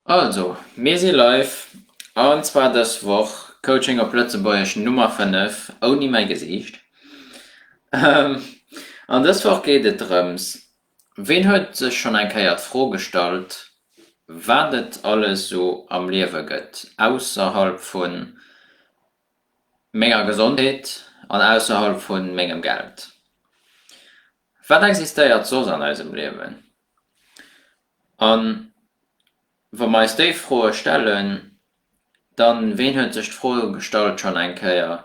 Also, mir si live, an zwar dës Woch Coaching op Lëtzebuergesch Nummer 5, ouni mäi Gesiicht. An dës Woch geet et drëms, ween huet sech schonn eng Kéier d'Fro gestallt, wat et alles esou am Liewe gëtt, ausserhalb vu menger Gesondheet an ausserhalb vu mengem Geld? Wat existéiert soss an eisem Liewen? A wa mer eis déi Froe stellen, dann, ween huet sech d'Fro gestallt schonn eng Kéier,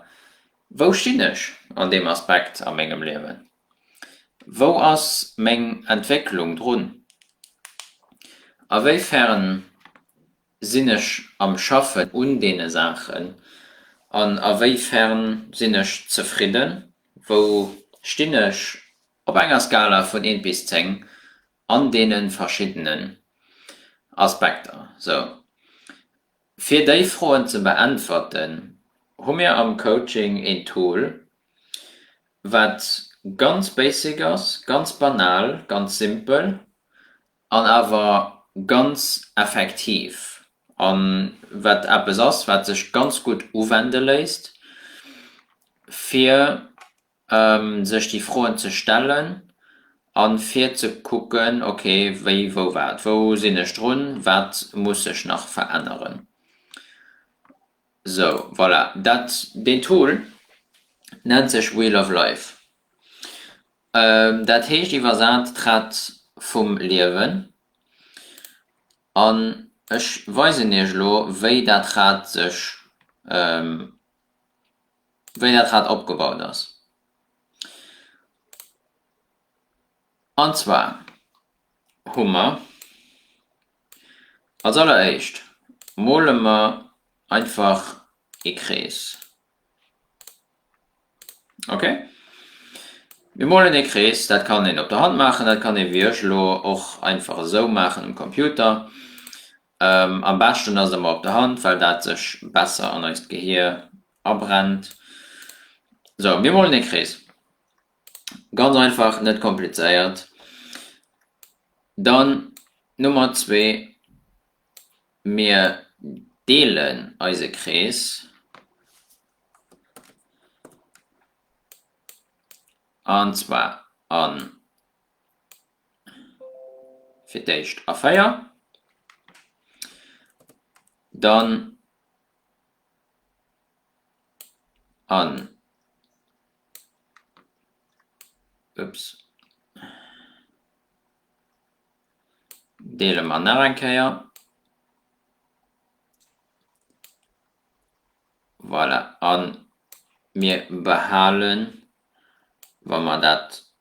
Wou stinn ech an deem Aspekt a mengem Liewen? Wou ass meng Entwécklung drun? A wéi fern sinn ech am Schaffen un deene Saachen an a wéi fern sinn ech zefridden? Wou stinn ech Op enger Skala vun eent bis zéng an deene verschiddenen Aspekter. Sou, fir déi Froen ze beäntwerten, hu mir am Coaching een Tool, wat ganz basic ass, ganz banal, ganz simpel an awer ganz effektiv a wat eppes ass, wat sech ganz gutt uwende léisst, fir sech déi Froen ze stellen a fir ze kucken, ok, wéi, wou, wat, wou sinn ech drun, wat muss ech nach veränneren. Sou, voilà, dat, deen Tool nennt sech Wheel of Life. Dat heescht iwwersat d'Rad vum Liewen. An ech weisen iech elo, wéi dat Rad sech. wéi dat Rad opgebaut ass. An zwar hu mer als alleréischt mole mer einfach ee Krees. Ok. Mir molen ee Krees, dat kann een op der Hand maachen, dat kann ee wéi ech elo och einfach esou maachen um Computer. Am beschten ass emmer op der Hand, well dat sech besser an eist Gehier abrennt. Sou, mir molen ee Krees, ganz einfach, net komplizéiert. Dann Nummer zwee, mir deelen eise Krees an zwar an fir d'éischt a 4, dann an, ups, deele mer nach eng Kéier, voilà, a mir behalen, wa mer dat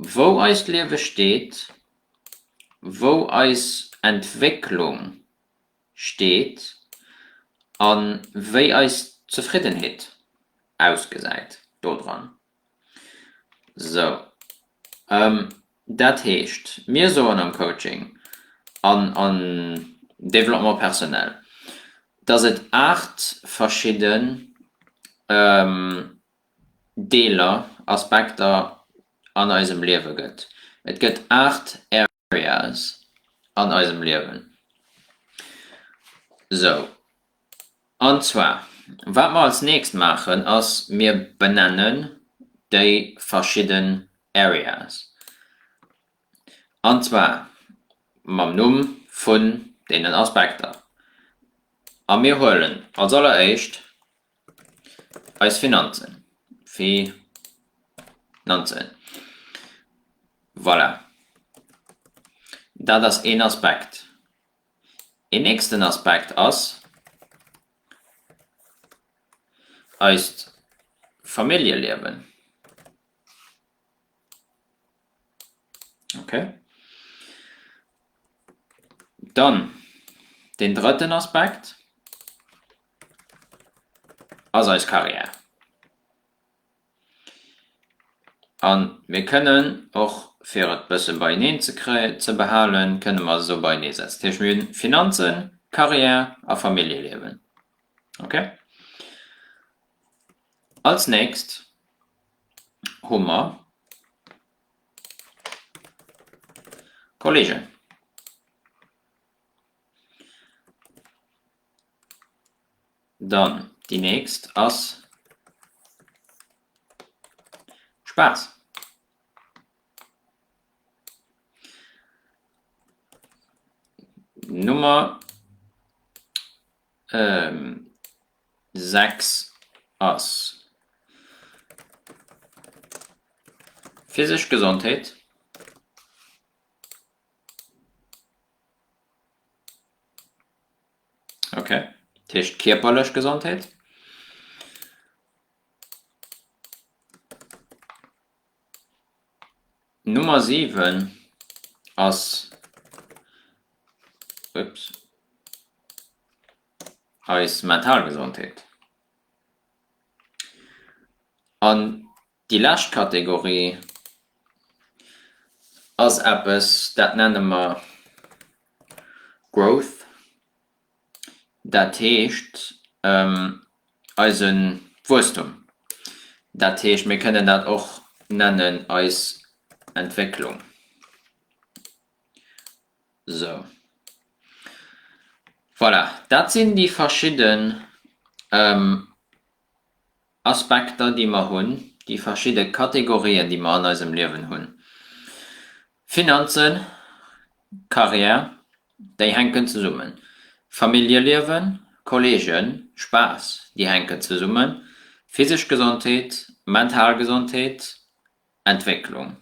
Wou eist Liewe steet, wou eis Entwécklung steet a wéi eis Zefriddenheet ausgesäit dodran. Sou. Dat heescht, mir soen am Coaching an am Développement personnel, dass et 8 verschidden. Deeler, Aspekter an eisem Liewe gëtt. Et gëtt 8 Areas an eisem Liewen. Sou. An zwar, wat mer als nächst maachen ass, mir benennen déi verschidden Areas. An zwar mam Numm vun deenen Aspekter. A mir huelen als alleréischt Eis Finanzen, Fi nanzen, voilà, dat ass een Aspekt. Een nächsten Aspekt ass eist Familljeliewen, ok. Dann deen drëtten Aspekt. ass eis Carrière. A mir kënnen och, fir et e bësse beieneen ze behalen, kënnen mer se esou beienee setzen. Dat heescht, mir hunn Finanzen, Carrière a Familljeliewen. Ok. Als nächst hu mer Kolleegen. Dann déi nächst ass Spaass. Nummer 6 ass physesch Gesondheet. Okay, dat heescht kierperlech Gesondheet. Nummer 7 ass ups, eis mental Gesondheet. An Déi lescht Kategorie ass eppes, dat nenne mer Growth. Dat heescht eise Wuesstum. Dat heescht, mir kënnen dat och nennen eis Entwécklung. Sou. Voilà, dat sinn déi verschidde. Aspekter, déi mer hunn, déi verschidde Kategorien, déi mer an eisem Liewen hunn, Finanzen, Carrière, déi hänken zesummen, Familljeliewen, Kolleegen, Spaass, déi hänken zesummen, physesch Gesondheet, mental Gesondheet, Entwécklung,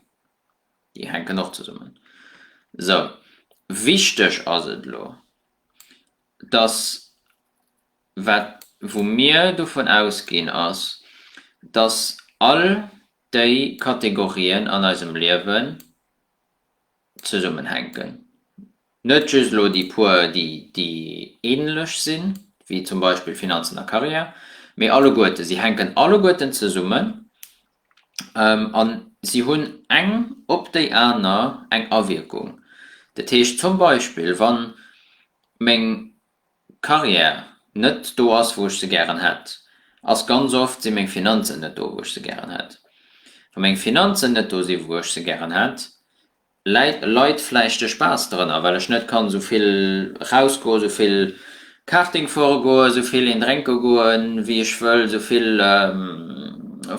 déi hänken och zesummen. Sou wichteg ass et elo, dass wat wou mir dovun ausginn, ass, dass all déi Kategorien an eisem Liewen zesummenhänken, net just elo déi puer, déi déi ähnlech sinn, wéi zum Beispill Finanzen a Karriär, mee alleguerten. Si hänken alleguerten zesummen a si hunn eng op déi aner eng Awierkung. Dat heescht zum Beispill, wa meng Carrière net do ass wou ech se gären hätt, ass ganz oft si meng Finanzen net do wou ech se gären hätt. Wa meng Finanzen net do si wou ech se gären hätt, läit leit vläicht de Spaass drënner, well ech net kann esou vill raus goen, esou vill Karting fuere goen, esou vill een drénke goen wéi ech wëll, esou vill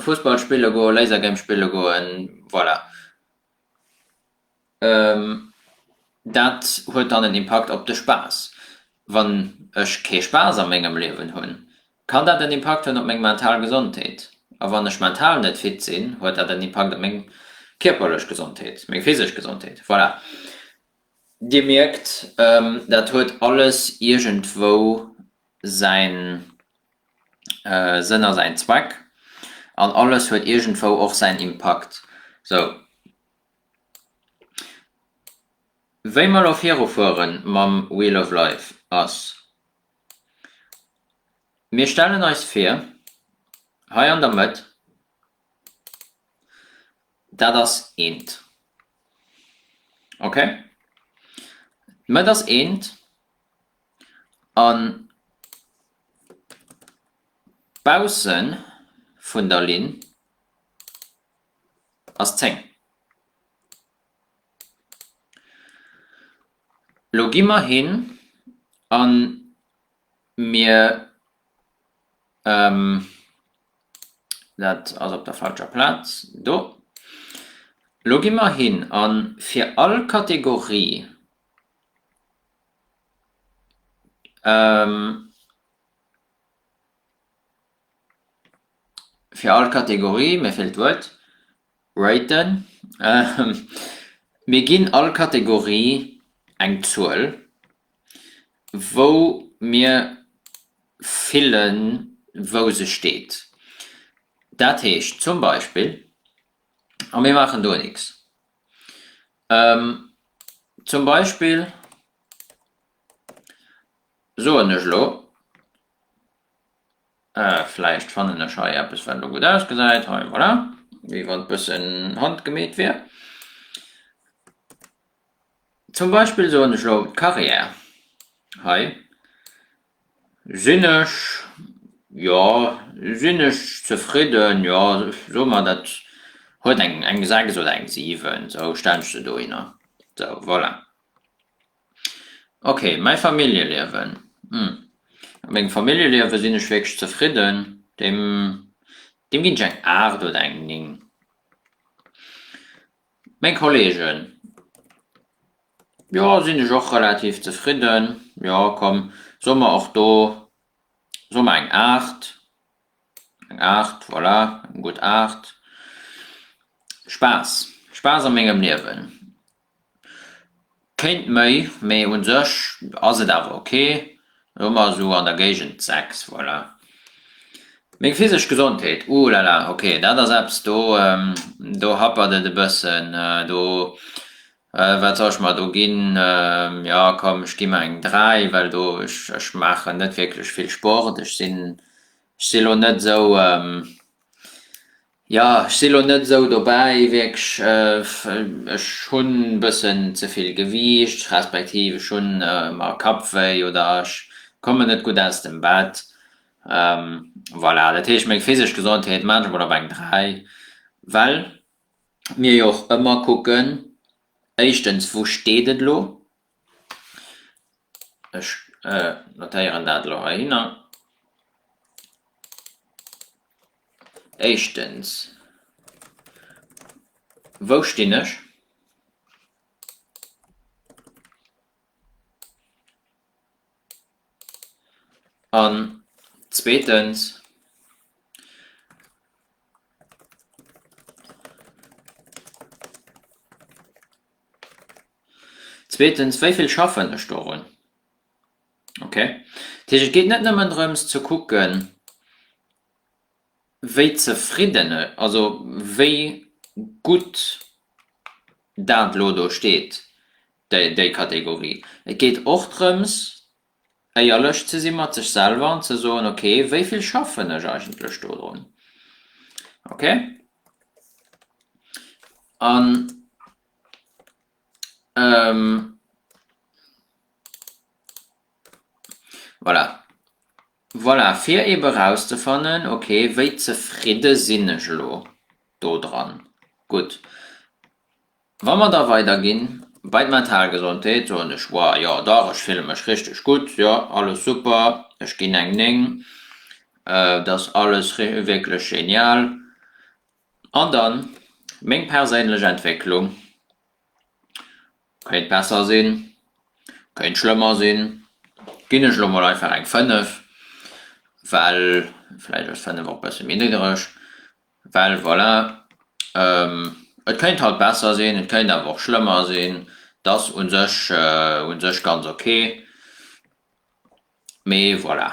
Fussball spille goen, Lasergame spille goen, voilà. Dat huet dann en Impakt op de Spaass. Wann ech kee Spaass a mengem Liewen hunn, kann dat en Impakt hunn op meng mental Gesondheet. A wann ech mental net fit sinn, huet dat en Impakt op meng kierperlech Gesondheet, meng physesch Gesondheet. Voilà, Dir mierkt, dat huet alles iergendwou säin Sënn a säin Zweck an alles huet iergendwou och säin Impakt. Sou. Wéi mer elo virufuere mam Wheel of Life ass, Mir stellen eis vir, hei an der Mëtt, dat ass eent. Okay? D'Mëtt ass eent an bausse vun der Linn. ass 10. Lo gi mer hin a mir, dat ass op der falscher Plaz, do, lo gi mer hin a fir all Kategorie Fir all Kategorie, mir feelt d'Wuert, raten mir ginn all Kategorie eng Zuel, wou mir fillen, wou se steet. Dat heescht zum Beispill, a mir maachen do nix, zum Beispill soen ech elo. Vläicht fannen ech hei eppes wat elo gutt ausgesäit, hei voilà, wéi wann bëssen handgemeet wier. Zum Beispill soen ech elo d'Carrière, hei sinn ech, jo sinn ech zefridden, jo soe mer dat huet eng sechs oder eng siwen, sou stellen ech se dohinner, sou voilà. Ok mäi Familljeliewen, hm mat mengem Familljeliewe sinn ech wierklech zefridden, deem deem ginn ech eng 8 oder eng 9. Meng Kollegen, jo sinn ech och relativ zefridden, jo komm soe mer och do soe mer eng 8, eng 8 voilà eng gutt 8. Spaass, Spaass a mengem Liewen, Kéint méi, mee un sech ass et awer ok. Elo hu mer esou an der Géigend 6, voilà. Meng physesch Gesondheet, uh la la, ok, dat ass eppes, do, do happert et e bëssen, do, wat soll ech mer do ginn, jo komm, ech gi mer eng 3, well do, ech maachen net wierklech vill Sport, ech sinn, ech si elo net esou, Jo, ech si lo net esou dobäi wierklech. Ech hunn e bëssen ze vill Gewiicht, respektiv ech hunn ëmmer Kappwéi oder ech kommen net gutt aus dem Bett. Voilà, dat heescht meng physesch Gesondheet maache ech mol op eng 3, well mir jo och ëmmer kucken, éischtens wou steet et elo? Ech notéieren dat elo heihinner. Éischtens, wou stinn ech? An zweetens, Zweetens, wéi vill schaffen ech dorun? Okay. Dat heescht, et geet net nëmmen drëms ze kucken, wéi zefridden, also wéi gutt dat elo do steet, déi Kategorie. Et geet och drëms. éierlech ze si mat sech selwer an ze soen, ok, wéi vill schaffen ech eigentlech do drun? Ok. An voilà, voilà, fir eebe erauszefannen, ok, wéi zefridde sinn ech elo do dran? Gutt. Wa mer da weiderginn, bei d'mental Gesondheet, soen ech, Wow, jo dach, ech fille mech richteg gutt, jo alles super, ech ginn eng 9, et ass alles wierklech genial. An dann meng perséinlech Entwécklung, kéint besser sinn, kéint schlëmmer sinn, ginn ech elo mol einfach eng 5, well vläicht ass 5 och e bësse méi niddereg, Well voilà, et kéint halt besser sinn, et kéint awer och schlëmmer sinn. T'ass u sech, u sech ganz ok. Mee voilà.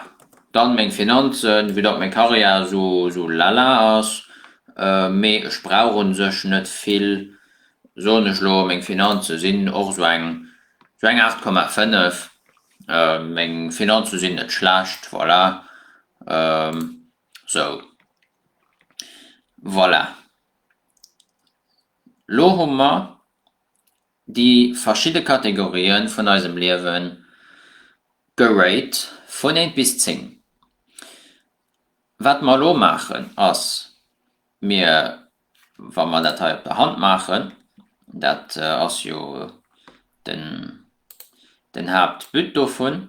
Dann meng Finanzen, vu datt meng Karriär esou, esou lala ass. Mee ech brauch u sech net vill, soen ech elo. Meng Finanze sinn och esou eng, esou eng 8,5. Meng Finanze sinn net schlecht, voilà. Sou. Voilà. Lo hu mer déi verschidde Kategorië vun eisem Liewe gerate vun eent bis zéng. Wat mer elo maachen ass, mir, wa mer dat hei op der Hand maachen, dat ass jo den Haaptbut dovun,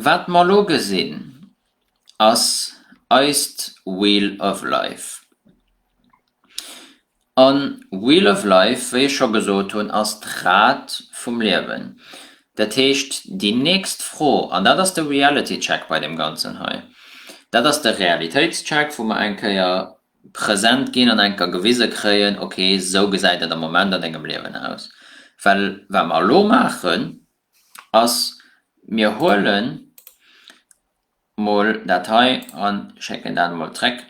Wat mer elo gesinn, ass eist Wheel of Life. A Wheel of Life, wéi ech scho gesot hunn, ass d'Rad vum Liewen. Dat heescht, déi nächst Fro, an dat ass de Reality Check bei deem Ganzen hei, dat ass de Realitéitscheck, wou mer eng Kéier present ginn an eng Kéier gewise kréien, okay, esou gesäit et am Moment an dengem Liewen aus. Well wat mer elo maachen, ass, mir huele mol dat hei a schécken dat emol zréck,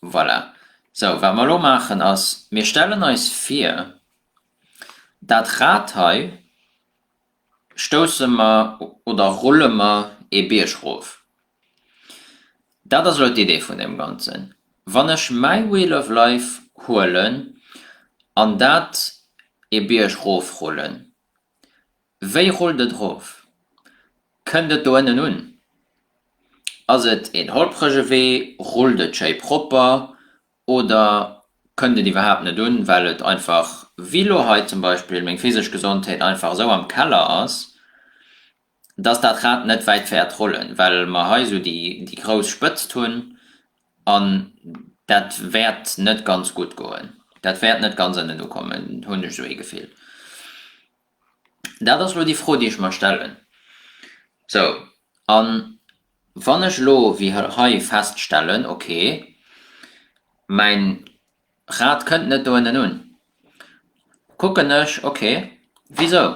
voilà. Sou, wat mer elo maachen ass, mir stellen eis vir, dat Rad hei, stousse mer oder rulle mer ee Bierg rof. Dat ass elo d'Idee vun deem Ganzen. Wann ech mäi Wheel of Life huelen an dat ee Bierg rofrullen, wéi rullt et rof? Kënnt et do ënnen un? Ass et een holprege Wee? Rullt et schéi propper? Oder kënnt et iwwerhaapt net un, well et einfach, wéi elo hei zum Beispill, meng physesch Gesondheet einfach esou am Keller ass, dass dat Rad net wäit fäert rollen, well mer hei esou déi grouss Spëtzt hunn an dat wäert net ganz gutt goen, dat wäert net ganz ënnen ukommen, hunn ech esou ee Gefill. Dat ass elo déi Fro, déi ech mer stellen. Sou, a wann ech elo wéi hei feststellen, okay, mäin Rad kënnt net do ënnen un, kucken ech, okay, wisou,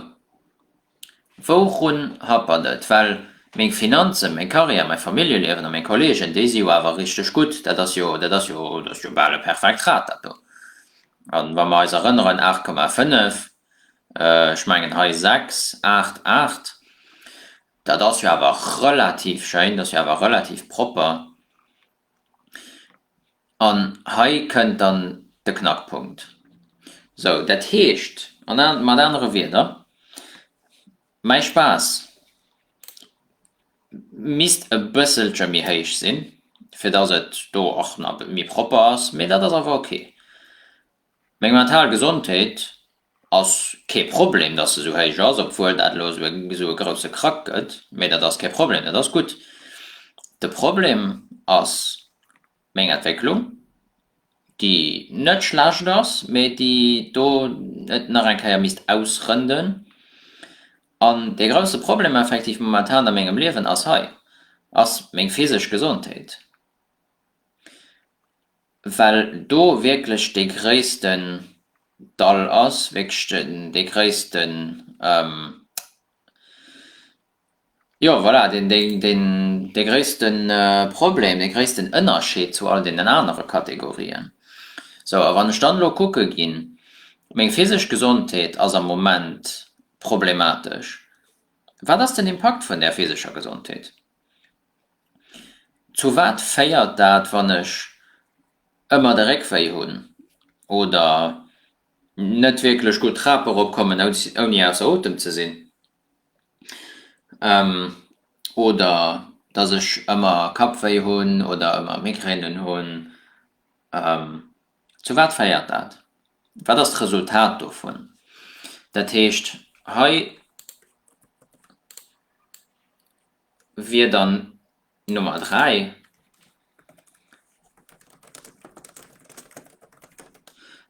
wourun hapert et? Well meng Finanzen, meng Carrière, mäi Familljeliewen a meng Kolleegen, déi si jo awer richteg gutt, dat ass jo, dat ass jo, dat ass jo bal e perfekt Rad, dat do. A wa mer eis erënneren, 8,5, Ech mengen hei 6, 8, 8. Dat ass jo awer relativ schéin, dat ass jo awer relativ propper. An hei kënnt dann de Knackpunkt. Sou, dat heescht mat anere Wierder, mäi Spaass misst e bësselche méi héich sinn, fir dass et do och nach méi propper ass, mee dat ass awer ok. Meng mental Gesondheet ass kee Problem, dass se esou héich ass, obwuel dat elo esou e grousse Krack gëtt, mee dat ass kee Problem, dat ass gutt. De Problem ass meng Entwécklung, déi net schlecht ass, mee déi do et nach eng Kéier misst ausrënden. An dee grousse Problem effektiv momentan a mengem Liewen ass hei, ass meng physesch Gesondheet. well do wierklech dee gréissten Dall ass, wierklech dee gréissten, jo voilà, dee gréisste Problem, dee gréissten Ënnerscheed zu all deenen anere Kategorien. Sou, a wann ech dann elo kucke ginn, meng physesch Gesondheet ass am Moment problematesch, wat ass den Impakt vun där physescher Gesondheet? Zu wat féiert dat wann ech ëmmer de Réckwéi hunn oder net wierklech gutt d'Trap erop kommen ouni ausser Otem ze sinn? Oder dass ech ëmmer Kappwéi hunn oder ëmmer Migränen hunn? Zu wat féiert dat? Wat ass d'Resultat dovun? Dat heescht hei. wier dann Nummer 3.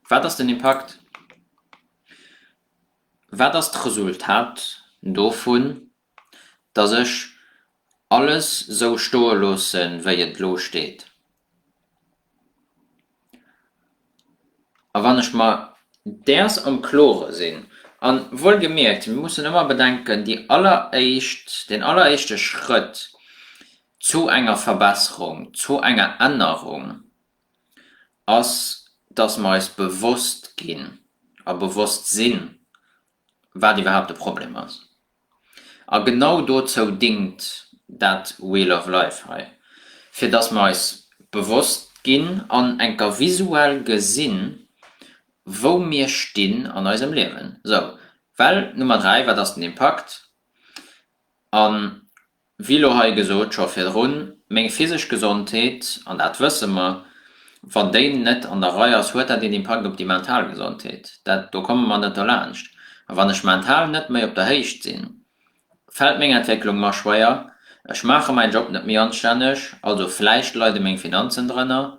Wat ass den Impakt? Wat ass d'Resultat dovun, datt ech alles esou stoe loosse wéi et elo steet? A wann ech mer däers am Klore sinn, a wuelgemierkt, mir mussen ëmmer bedenken, déi alleréischt, deen alleréischte Schrëtt zu enger Verbesserung, zu enger Ännerung ass, dass mer eis bewosst ginn a bewosst sinn, wat iwwerhaapt de Problem ass. A genau dozou dingt dat Wheel of Life hei, fir dass mer eis bewosst ginn an enker visuell gesinn, wou mir stinn an eisem Liewen. Sou, well Nummer 3, wat ass den Impakt? An Wéi lo hei gesot, scho virdrun, meng physesch Gesondheet, an dat wësse mer, wann déi net an der Rei ass, huet dat een Impakt op déi mental Gesondheet. Dat, do komme mer net dolaanscht. A wann ech mental net méi op der Héicht sinn, fält meng Entwécklung mer schwéier, ech maache mäin Job net méi anstänneg, also vläicht leide meng Finanzen drënner,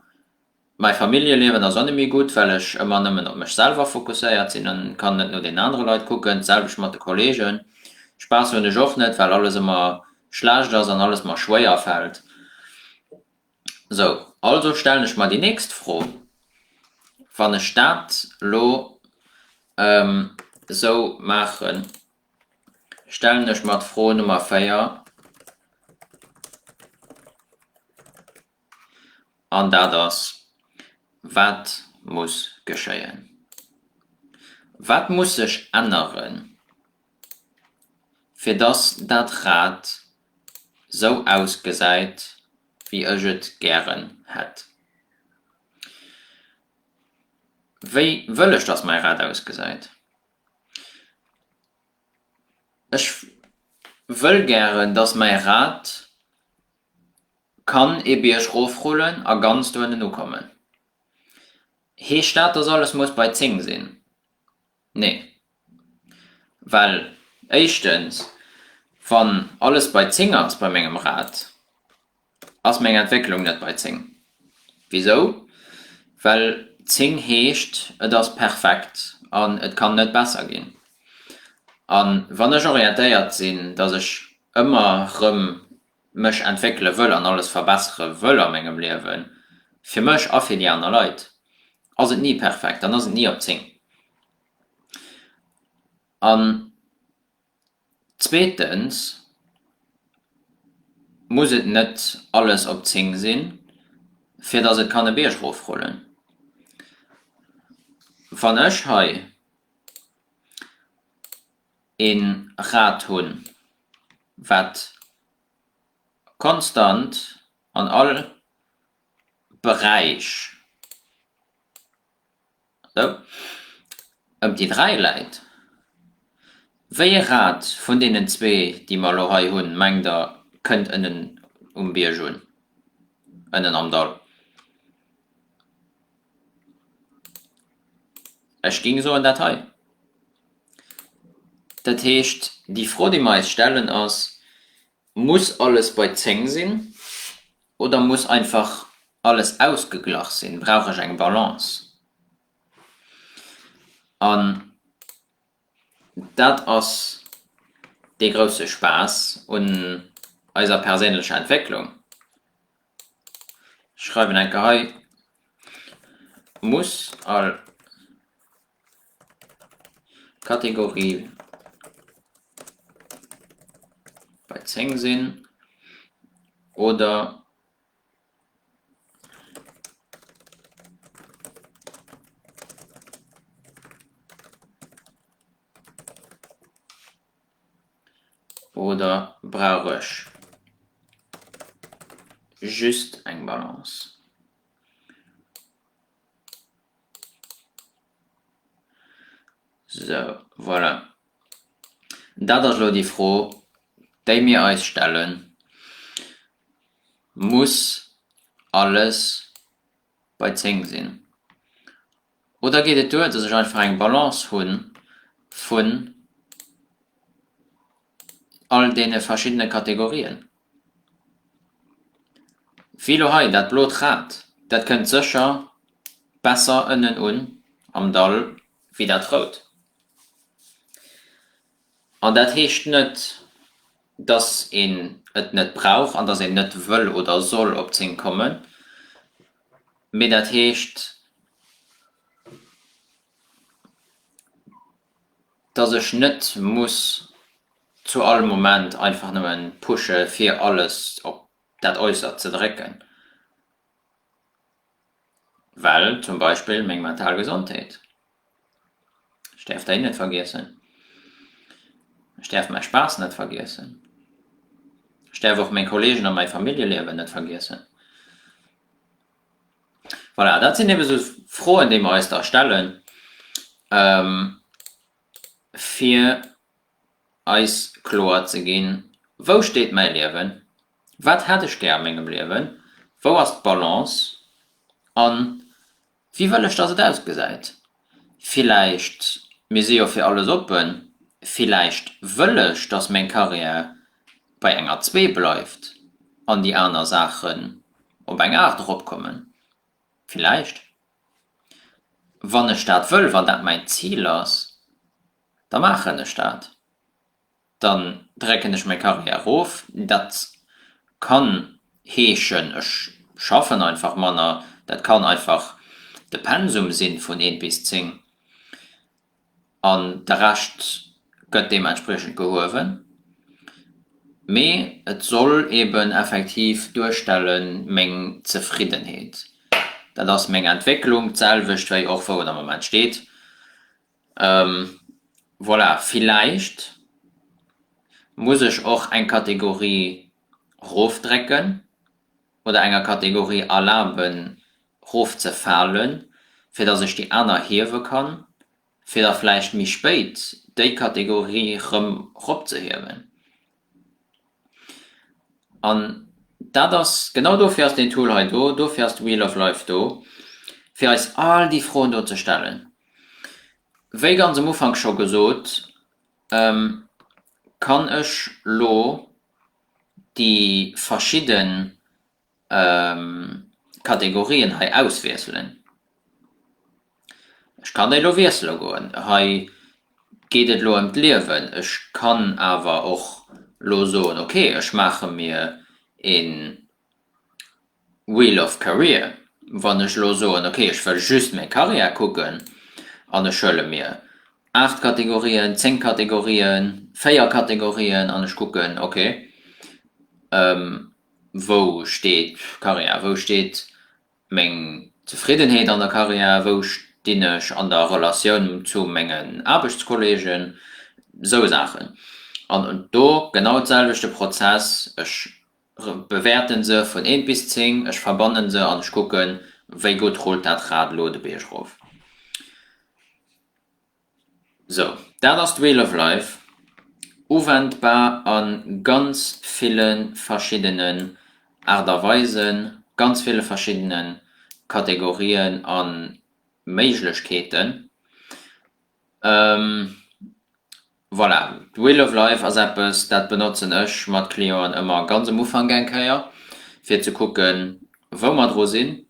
Mäi Familljeliewen ass och net méi gutt, well ech ëmmer nëmmen op mech selwer fokusséiert sinn an kann net no deenen anere Leit kucken. D'selwecht mat de Kolleegen, Spaass hunn ech och net, well alles ëmmer schlecht ass an alles mer schwéier fält. Sou, also stellen ech mer déi nächst Fro, Wann ech dat lo sou maachen, stellen ech mer d'Fro Nummer 4, an dat ass, Wat muss geschéien? Wat muss sech änneren, fir dass dat Rad sou ausgesäit, wéi ech et gären hätt? Wéi wëll ech, dass mäi Rad ausgesäit? Ech wëll gären, dass mäi Rad Kann ee Bierg rofrullen a ganz do ënnen ukommen. Heescht dat, dass alles muss bei 10 sinn? Nee. Well éischtens, wann alles bei 10 ass bei mengem Rad, ass meng Entwécklung net bei 10. Wisou? Well 10 heescht, et ass perfekt an et kann net besser ginn. A wann ech orientéiert sinn, dass ech ëmmer erëm mech entwéckele wëll an alles verbessere wëll a mengem Liewen, fir mech a fir déi aner Leit, ass et ni perfekt, dann ass et ni op 10. An zweetens muss et net alles op 10 sinn, fir dass et kann e Bierg erofrullen. Wann ech hei. e Rad hunn, wat konstant an all Beräich ëm déi dräi läit. Wéi ee Rad vun deenen zwee, déi mer elo hei hunn, mengt Der kënnt ënnen um Bierg un, ënnen am Dall? Ech géing soen, dat hei. Dat heescht, déi Fro, déi mer eis stellen, ass, Muss alles bei zéng sinn oder muss einfach alles ausgeglach sinn? Brauch ech eng Balance? An. Dat ass dee grousse Spaass un eiser perséinlecher Entwécklung. Ech schreiwen enker hei muss all Kategorie bei 10 sinn oder oder brauch ech just eng Balance? So, voilà. Dat ass lo déi Fro, déi mir eis stellen. muss alles bei 10 sinn? Oder geet et duer, dass ech einfach eng Balance hu vun all deene verschiddene Kategorien? Wéi elo hei, dat blot Rad, dat kënnt sécher besser ënnen un am Dall wéi dat rout. An dat heescht net. dass een et net brauch an dass een net wëll oder soll op zéng kommen, mee dat heescht, dass ech net muss zu all Moment einfach nëmme pushe fir alles op dat Äussertst ze drécken. well zum Beispill meng mental Gesondheet, ech däerf déi net vergiessen, ech däerf mäi Spaass net vergiessen, ech däerf och meng Kollegen a mäi Familljeliewen net vergiessen. Voilà, dat sinn ebe sou Froen, déi mer eis da stellen, fir eis kloer ze ginn, Wou steet mäi Liewen? Wat hätt ech gär a mengem Liewen? Wou ass d'Balance? A wéi wëll ech, datt et ausgesäit? Villäicht, mir si jo fir alles oppen, villäicht wëll ech, datt meng Carrière bei enger zwee bleift an déi aner Saachen op eng aacht eropkommen? Villäicht, wann ech dat wëll, wann dat mäin Zil ass? da maachen ech dat, dann drécken ech mäi Carrière erof. Dat kann heeschen, ech schaffen einfach manner, dat kann einfach de Pensum si vun eent bis zéng an de Rescht gëtt deementspriechend behuewen. Mee et soll eeben effektiv duerstelle meng Zefriddenheet, dat ass meng Entwécklung, d'selwecht wéi och wou et am Moment steet, Voilà, villäicht muss ech och eng Kategorie rofdrécken oder enger Kategorie erlaben rofzefalen, fir datt ech déi aner hiewe kann, fir da vläicht méi spéit déi Kategorie erëm ropzehiewen. An dat ass, genau dofir ass deen Tool hei do, dofir ass d'Wheel of Life do, fir eis all déi Froen do ze stellen. Wéi ganz um Ufank scho gesot, kann ech lo déi verschidde. Kategorien hei auswiesselen. Ech kann déi elo wiessele goen. Hei geet et elo ëm d'Liewen. Ech kann awer och elo soen, ok, ech maache mir ee Wheel of Career. Wann ech elo soen, ok, ech wëll just meng Karriär kucken an ech huele mir aacht Kategorien, zéng Kategorien, véier Kategorien an ech kucken, ok, Wou steet d'Karriär? Wou steet meng Zefriddenheet an der Karriär? Wou stinn ech an der Relatioun zu mengen Aarbechtskolleegen? Esou Saachen. An do genau d'selwechte Prozess, ech bewäerte se vun eent bis zéng, ech verbanne se an ech kucken, wéi gutt rullt dat Rad elo de Bierg erof. Sou, dat ass d'Wheel of Life, uwendbar a ganz ville verschiddenen Aart a Weisen, ganz ville verschiddene Kategorien a Méiglechkeeten. Voilà, d'Wheel of Life ass eppes, dat benotzen ech mat Clienten ëmmer ganz um Ufank eng Kéier, fir ze kucken, wou mer dru sinn.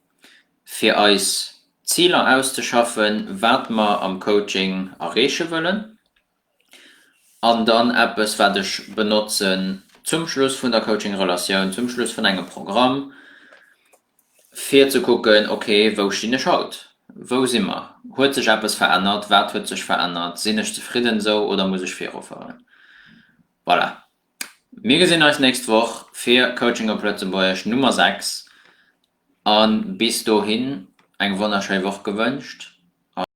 fir eis Ziler auszeschaffen, wat mer am Coaching erreeche wëllen. An dann eppes, wat ech benotzen zum Schluss vun der Coaching-Relatioun, zum Schluss vun engem Programm, fir ze kucken, ok, wou stinn ech haut, wou si mer, huet sech eppes verännert, wat huet sech verännert, sinn ech zefridden esou oder muss ech virufueren? Voilà. Mir gesinn eis nächst Woch fir Coaching op Lëtzebuergesch Nummer 6. An bis dohin eng wonnerschéi Woch gewënscht.